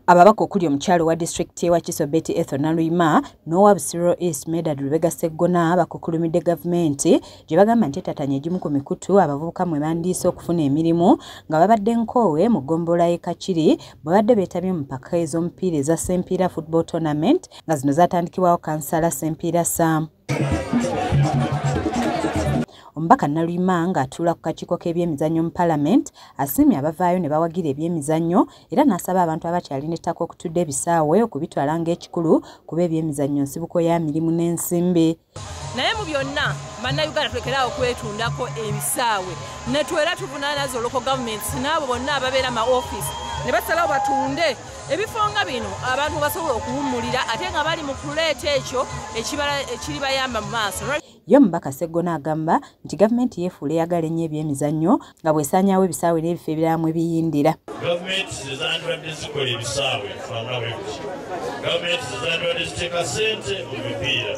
Ababaka okuli omukyalo wa district y'e Wakiso Betty Ethel Naluyima n'owa Busiro East Medard Lubega Sseggona bakukulumidde gavumenti gye bagamba nti etatanye egimu ku mikutu abavubuka mwe bandiise okufuna emirimu nga babadde nkoowe mu ggombolola y'e Kakiri bwe badde beetabye mu mpaka ez'omupiira eza Sempiira Football Tournament nga zino zaatandikibwawo kansala Sempiira Sam omubaka naluyima ng'atuula ku kakiiko k'ebyemizannyo mu palamenti asiimye abavaayo ne bawagira ebyemizannyo era n'asaba abantu abakyalina ettaka okutudde ebisaawe okubitwala ng'ekikulu kuba ebyemizannyo nsibuko ya mirimu n'ensimbi naye mu byonna bannayuganda tulekeraawo okwetundako ebisaawe netwera tuvunaanaza oloko gavumenti n'abo bonna ababeera ma ofiisi ne basalawo batunde ebifo nga bino abantu basobola okuwummulira ate nga bali mu kuleeta ekyo ekiribayamba mu maaso Ye omubaka Sseggona agamba nti gavumenti yeefuula eyagala ennyo ebyemizannyo nga bw'esaanyaawo ebisaawe n'ebifo ebirala mwe biyindira. Gavumenti ze zandibadde zikola ebisaawe fanga bwe kuti. Gavumenti ze zandibadde ziteeka ssente mu mipiira.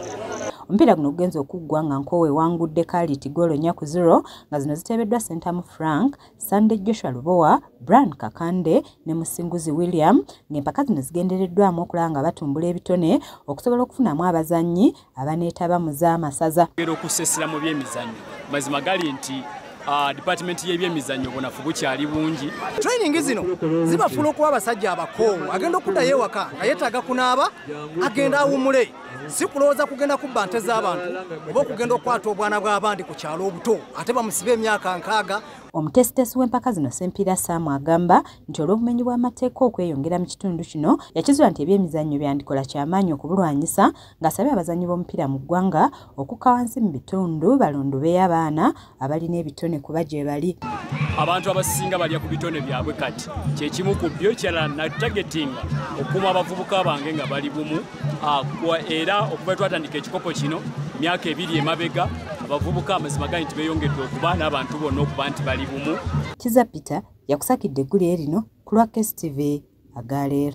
Omupiira guno gugenze okuggwa nga Nkoowa ewangudde Kaaliti ggoolo nnya ku zero nga zino ziteebeddwa Ssentamu Frank, Sunday Joshua Lubowa, Brian Kakande ne Musinguzi William ng'empaka zino zigendereddwamu okulaba nga batumbula ebitone okusobola okufunamu abazannyi abaneetaba mu z'amasaza. Era okusesera mu by'emizannyo mazima gali nti Ah, department y'ebyemizannyo bunafu bukyali bungi training zino zibafuula okuba abasajja abakoowu agenda okuddayo ewaka nga yeetaaga kunaaba agenda awumule si kulowooza kugenda kubba nte z'abantu oba okugenda okukwata obwana bw'abandi ku kyalo obuto ate bamusibe emyaka nkaaga omutesitesi w'empaka zino sempiira saamu agamba nti olw'obumenyi bw'amateeka okweyongera mu kitundu kino yakizuula nti ebyemizannyo byandikola kyamaanyi okubulwanyisa ng'asabye abazannyi b'omupiira mu ggwanga okukka wansi mu bitundu balondobeyo abaana abalina ebitone kuba gye bali abantu abasinga balya ku bitone byabwe kati kyekimu ku byo kirala natagetinga okukuuma abavubuka bange nga bali bumu ah, era okuva twatandika ekikopo kino myaka ebiri emabega abavubuka amazima gali nti beyongedde okuba n'abantu bonna okuba nti bali bumu kiza peter yakusakidde eggulire lino ku lwa kstv agaleero